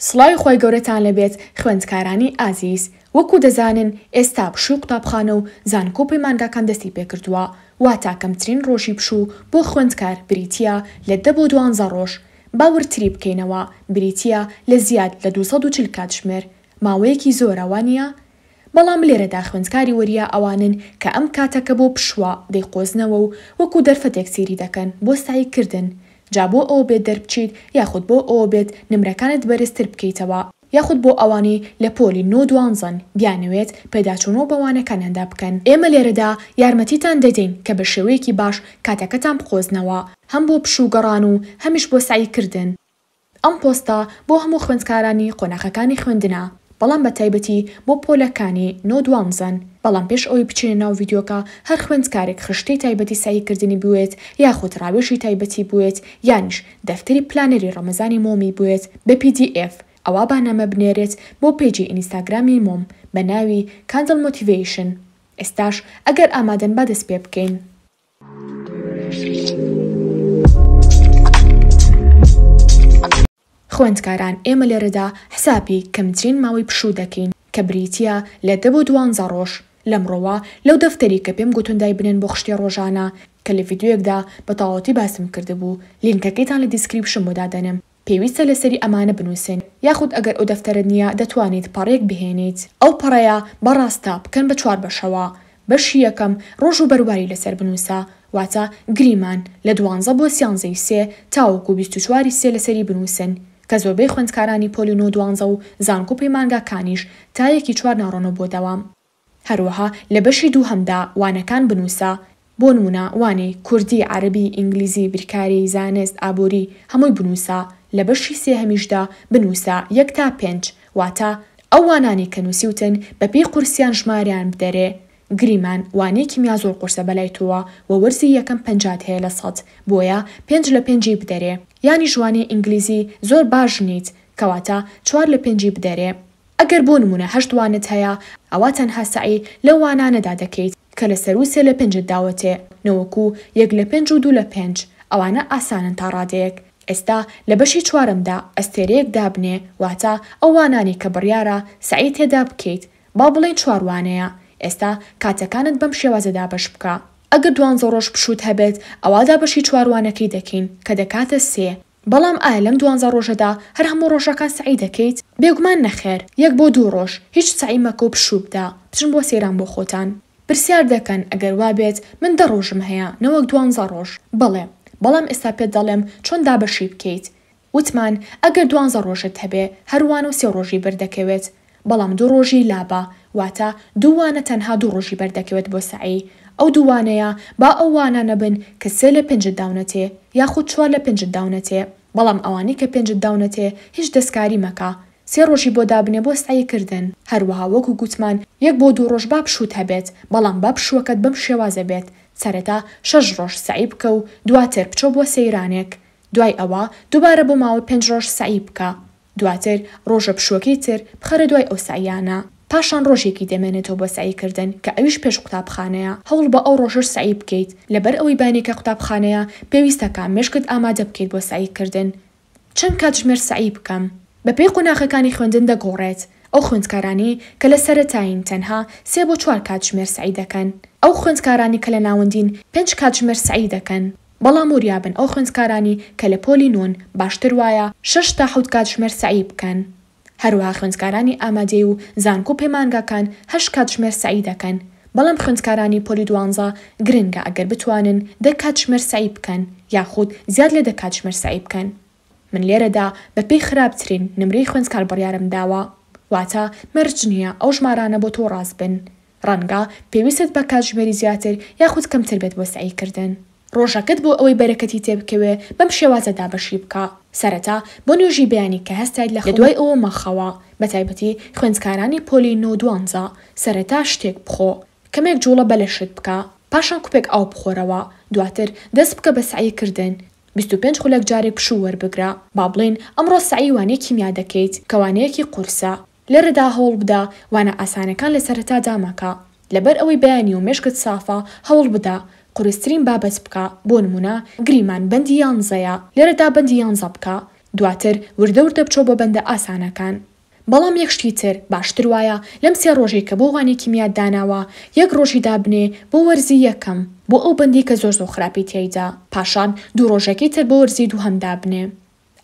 سڵاوی خوای گەورەتان لەبێت خوێندکارانی ئازیز، وەکو دەزانن ئێستا پشووی قوتابخانە و زانکۆ و پەیمانگاکان دەستی پێکردووە، واتە کەمترین ڕۆژی پشوو بۆ خوێندکار بریتییە لە دە بۆ دوانزە ڕۆژ، با وردتری بکەینەوە بریتییە لە زیاد لە دوو سەد و چل کاتژمێر، ماوەیەکی زۆرە وانییە؟ بەڵام لێرەدا خوێندکاری وەریا ئەوانن کە ئەم کاتە کە بۆ پشوا دەیقۆزنەوە و وەکو دەرفەتێک سەیری دەکەن بۆ سەعی کردن جا بۆ ئەوە بێت دەربچیت یاخود بۆ ئەوە بێت نمرەکانت بەرزتر بکەیتەوە یاخود بۆ ئەوانەی لە پۆلی نۆ دوانزەن بیانەوێت پێداچوونەوە بە وانەکانیاندا بکەن. ئێمە لێرەدا یارمەتیتان دەدەین کە بە شێوەیەکی باش کاتەکەتان بقۆزنەوە هەم بۆ پشوو گەڕان و هەمیش بۆ سەعی کردن. ئەم پۆستە بۆ هەموو خوێندکارانی قۆناخەکانی خوێندنە بەڵام بە تایبەتی بۆ پۆلە کانی نۆ دوانزەن بەڵام پێش ئەوەی بچینە ناو ڤیدیۆکە هەر خوێندکارێک خشتەی تایبەتی سەعی کردنی بوێت یاخود ڕاوێژی تایبەتی بوێت یانیش دەفتەری پلانەری ڕەمەزانی مۆمی بوێت بە پی دی ئێف ئەوا با نامە بنێرێت بۆ پەیجی ئینیستاگرامی مۆم بە ناوی Candle Motivation ئێستاش ئەگەر ئامادەن با دەست پێ بکەین. خوێندکاران ئێمە لێرەدا حسابی کەمترین ماوەی پشوو دەکەین کە بریتییە لە دە بۆ دوانزە ڕۆژ لەمڕۆوە لەو دەفتەری کە پێم گوتن دایبنێن بۆ خشتەی ڕۆژانە کە لە ڤیدیۆیەکدا بە تەواوەتی باسم کردبوو لینکەکەیتان لە دیسکریپشن بۆ دادەنێم پێویستە لەسەری ئەمانە بنووسن یاخود ئەگەر ئەودەفتەرەت نییە دەتوانیت پەڕەیەک بهێنیت ئەو پەڕەیە بە ڕاستە بکەن بە چوار بەشەوە بەشی یەکەم ڕۆژ و بەرواری لەسەر بنووسە واتە گریمان لە دوانزە بۆ سیانزە ی سێ تاوەکو بیست و چوار ی سێ لەسەری بنووسن کە زۆربەی خوێندکارانی پۆلی نۆ دوانزە و زانکۆ پەیمانگاکانیش تا یەکی چوار ناڕۆنەوە بۆ دەوام هەروەها لە بەشی دووهەمدا وانەکان بنووسە، بۆ نموونە وانەی، کوردی، عەرەبی، ئینگلیزی، بیرکاری، زانست، ئابووری، هەمووی بنووسە، لە بەشی سێهەمیشدا بنووسە یەک تا پێنج، واتە ئەو وانانەی کە نووسیوتن بەپێی قورسیان ژماریان بدەرێ، گریمان، وانەی کیمیا زۆر قورسە بەلای تۆوە و وەرزی یەکەم پەنجات هەیە لە سەد، بۆیە پێنج لە پێنجی بدەرێ، یانیش وانەی ئینگلیزی زۆر باش نیت، کەواتە چوار لە پێنجی بدەرێ. ئەگەر بۆ نموونە هەشت وانەت هەیە، ئەوا تەنها سەعی لەو وانانەدا دەکەیت کە لە سەروو سێ لە پێنجت داوەتێ، نەوەکو یەک لە پێنج و دوو لە پێنج، ئەوانە ئاسانن تا ڕادەیەک. ئێستا لە بەشی چوارەمدا ئەستێرەیەک دابنێ، واتە ئەو وانانەی کە بڕیارە سەعی تێدا بکەیت، با بڵێین چوار وانەیە، ئێستا کاتەکانت بەم شێوازە دابەش بکە. ئەگەر دوانزە ڕۆژ پشووت هەبێت، ئەوا دابەشی چوار وانەکەی دەکەین کە دەکاتە سێ. بەڵام ئایا لەم دوانزە ڕۆژەدا هەر هەموو ڕۆژەکان سەعی دەکەیت؟ بێگومان نەخێر، یەک بۆ دوو ڕۆژ هیچ سەعی مەکە و پشوو بدە، بچن بۆ سەیران بۆ خۆتان. پرسیار دەکەن، ئەگەر وابێت، من دە ڕۆژم هەیە، نەوەک دوانزە ڕۆژ. بەڵێ. بەڵام ئێستا پێت دەڵێم چۆن دابەشی بکەیت. وتمان، ئەگەر دوانزە ڕۆژت هەبێ، هەر وانە و سێ ڕۆژی بەردەکەوێت. بەڵام دوو ڕۆژی لابە واتە دوو وانە تەنها دوو ڕۆژی بەر دەکەوێت بۆ سەعی ئەو دوو وانەیە با ئەو وانانە بن کە سێ لە پێنجت داونەتێ یاخود چوار لە پێنجت داونەتێ بەڵام ئەوانەی کە پێنجت داونەتێ هیچ دەستکاری مەکە سێ ڕۆژی بۆ دابنێ بۆ سەعی کردن هەروەها وەکو گوتمان یەک بۆ دوو ڕۆژ با پشووت هەبێت بەڵام با پشووەکەت بەم شێوازە بێت سەرەتا شەش ڕۆژ سەعی بکە و دواتر بچۆ بۆ سەیرانێک دوای ئەوە دوبارە بۆ ماوەی پێنج ڕۆژ سەعی بکە دواتر ڕۆژە پشووەکەی تر بخەرە دوای ئەو سەعییانە، پاشان ڕۆژێکی دەمێنێتەوە بۆ سەعی کردن کە ئەویش پێش قوتابخانەیە، هەوڵ بە ئەو ڕۆژەش سەعی بکەیت، لەبەر ئەوەی بانێکە قوتابخانەیە، پێویستە کە مێشکت ئامادە بکەیت بۆ سەعی کردن. چەند کاتژمێر سەعی بکەم؟ بەپێی قۆناغەکانی خوێندن دەگۆڕێت، ئەو خوێندکارانەی کە لە سەرەتایین تەنها سێ بۆ چوار کاتژمێر سەعی دەکەن، ئەو خوێندکارانەی کە لە ناوەندین پێنج کاتژمێر سەعی دەکەن، بەڵام وریابن ئەو خوێندکارانی کە لە پۆلی نۆن باشتر وایە شەش تا حەوت کاتژمێر سەعی بکەن هەروەها خوێندکارانی ئامادەی و زانکۆ پەیمانگاکان هەشت کاتژمێر سەعی دەکەن بەڵام خوێندکارانی پۆلی دوانزە گرنگە ئەگەر بتوانن دە کاتژمێر سەعی بکەن یاخود زیاد لە دە کاتژمێر سەعی بکەن من لێرەدا بە پێی خراپترین نمرەی خوێندکار بڕیارم داوە واتە مەرج نیە ئەو ژمارانە بۆ تۆ ڕاست بن ڕەنگە پێویستت بە کاتژمێری زیاتر یاخود کەمتر بێت بۆ سەعی کردن. ڕۆژەکەت بۆ ئەوەی بەرەکەتی تێبکەوێ بەم شێوازە دابەشی بکە، سەرەتا بۆ نوێژی بەیانی کە هەستایت لە خەو، لەدوای ئەوە مەخەوە، بەتایبەتی خوێندکارانی پۆلی نۆ و دوانزە، سەرەتا شتێک بخۆ، کەمێک جوڵە بە لەشت بکە، پاشان کوپێک ئاو بخۆرەوە، دواتر دەست بکە بە سەعی کردن، بیست و پێنج خولەک جارێک پشوو وەربگرە، با بڵێین ئەمڕۆ سەعی وانەی کیمیا دەکەیت کە وانەیەکی قورسە، لێرەدا هەوڵبدە وانە ئاسانەکان لە سەرەتادا مەکە، لەبەر ئەوەی بەیانی و مێشکت سافە، هەوڵبدە قورسترین بابەت بکە، بۆ نموونە گریمان بەندی یانزەیە، لێرەدا بەندی یانزە بکە، دواتر وردە وردە بچۆ بۆ بەندە ئاسانەکان. بەڵام یەک شتی تر، باشتر وایە لەم سێ ڕۆژەی کە بۆ وانەی کیمیات داناوە، یەک ڕۆژی دابنێ بۆ وەرزی یەکەم، بۆ ئەو بەندەی کە زۆر زۆر خراپی تیایدا، پاشان دوو ڕۆژەکەی تر بۆ وەرزی دووهەم دابنێ.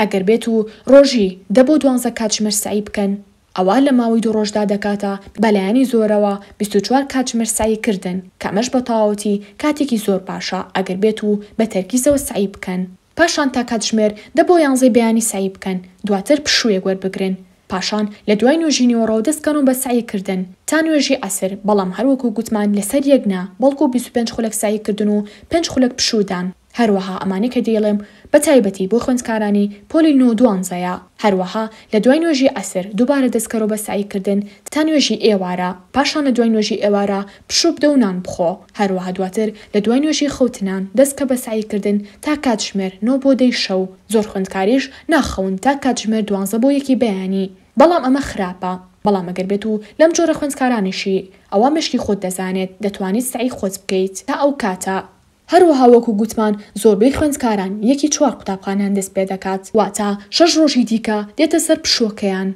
ئەگەر بێت و ڕۆژی، دە بۆ دوانزە کاتژمێر سەعی بکەن، ئەوا لە ماوەی دوو ڕۆژدا دەکاتە، بە لایەنی زۆرەوە، بیست و چوار کاتژمێر سەعی کردن، کە ئەمەش بە تەواوەتی کاتێکی زۆر باشە، ئەگەر بێت و بە تەرکیزەوە سەعی بکەن. پاشان تا کاتژمێر، دە بۆ یانزەی بەیانی سەعی بکەن، دواتر پشوویەک وەربگرن، پاشان لە دوای نوێژی نیوەڕۆ دەست کەنەوە بە سەعی کردن تا نوێژی عەسر، بەڵام هەر وەکو گوتمان لە سەر یەک نا، بەڵکو بیست و پێنج خولەک سەعی کردن و پێنج خولەک پشوو دان. هەروەها ئەمانەی کە دەیڵێم بە تایبەتی بۆ خوێندکارانی پۆلی نۆ و دوانزەیە. هەروەها لە دوای نوێژی عەسر دووبارە دەستکەرۆ بە سەعی کردن تا نوێژی ئێوارە، پاشان لە دوای نوێژی ئێوارە پشوو بدە و نان بخۆ، هەروەها دواتر لە دوای نوێژی خەوتنان دەست کە بە سەعی کردن تا کاتژمێر نۆ بۆ دەی شەو، زۆر خوێندکاریش ناخەون تا کاتژمێر دوانزە بۆ یەکی بەیانی، بەڵام ئەمە خراپە، بەڵام ئەگەر بێت و لەم جۆرە خوێندکارانەشی ئەوا مێشکی خۆت دەزانێت دەتوانیت سەعی خۆت بکەیت تا ئەو کاتە. هەروەها وەکو گوتمان زۆربەی خوێندکاران یەکی چوار قوتابخانەیان دەست پێدەکات واتە شەش ڕۆژی دیکە دێتە سەر پشووەکەیان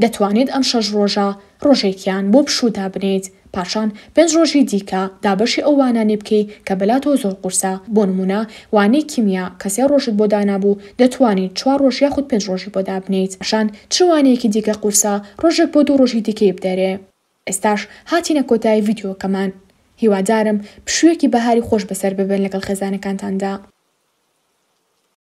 دەتوانیت ئەم شەش ڕۆژە ڕۆژێکیان بۆ پشوو دابنێیت پاشان پێنج ڕۆژی دیکە دابەشی ئەو وانانەی بکەی کە بەلاتەوە زۆر قورسە بۆ نموونە وانەی کیمیا کە سێ ڕۆژت بۆ دانابوو دەتوانیت چوار ڕۆژ یاخود پێنج ڕۆژی بۆ دابنێیت پاشان چ وانەیەکی دیکە قورسە ڕۆژێک بۆ دوو ڕۆژی دیکەی بدەرێ. ئێستاش هاتینە کۆتایی ڤیدیۆکەمان هیوادارم پشویەکی بەهاری خۆش بەسەر ببەن لەگەڵ خێزانەکانتاندا.